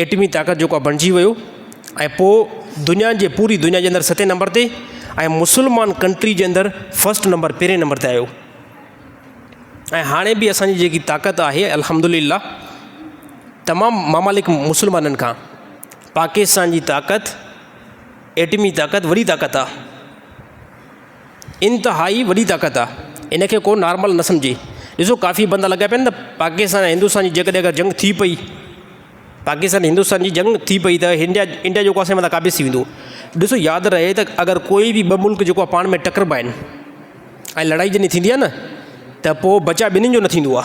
ايٽمي طاقت جيڪو بڻجي ويو ۽ پوء دنيا جي پوري دنيا جي اندر ستين نمبر تي ۽ مسلمان ڪنٽري جي اندر فسٽ نمبر پهرين نمبر تي آيو ۽ هاڻي به اسانجي جيڪي طاقت آهي الحمد لله تمام ممالڪ مسلمانن کان پاڪستان جي طاقت ايٽمي طاقت وڏي طاقت آ انتهائي وڏي طاقت آ ان کي ڪو نارمل نه سمجهي ڏسو ڪافي بندا لڳا پيا آهن ته پاڪستان ۽ هندوستان جي جيڪڏهن اگر جنگ ٿي پئي پاڪستان ۽ هندوستان جي جنگ ٿي پئي ته انڊيا انڊيا جيڪو آسي متان قابض ٿي ويندو ڏسو ياد رهي ته اگر ڪوئي بي ٻه ملڪ جيڪو پاڻ ۾ ٽڪربا آهن ۽ لڙائي جڏهن ٿيندي آهي نه ته پوء بچا ٻنهي جو نه ٿيندو آ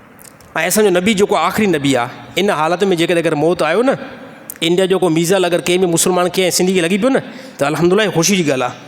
۽ اسان جو نبي جيڪو آخري نبي آ ان حالت ۾ جيڪڏهن اگر موت آيو نه انڊيا جو ڪو ميزل اگر ڪنهن به مسلمان کي سنڌي کي لڳي پيو نه ته الحمد لله خوشي جي ڳالهه آ.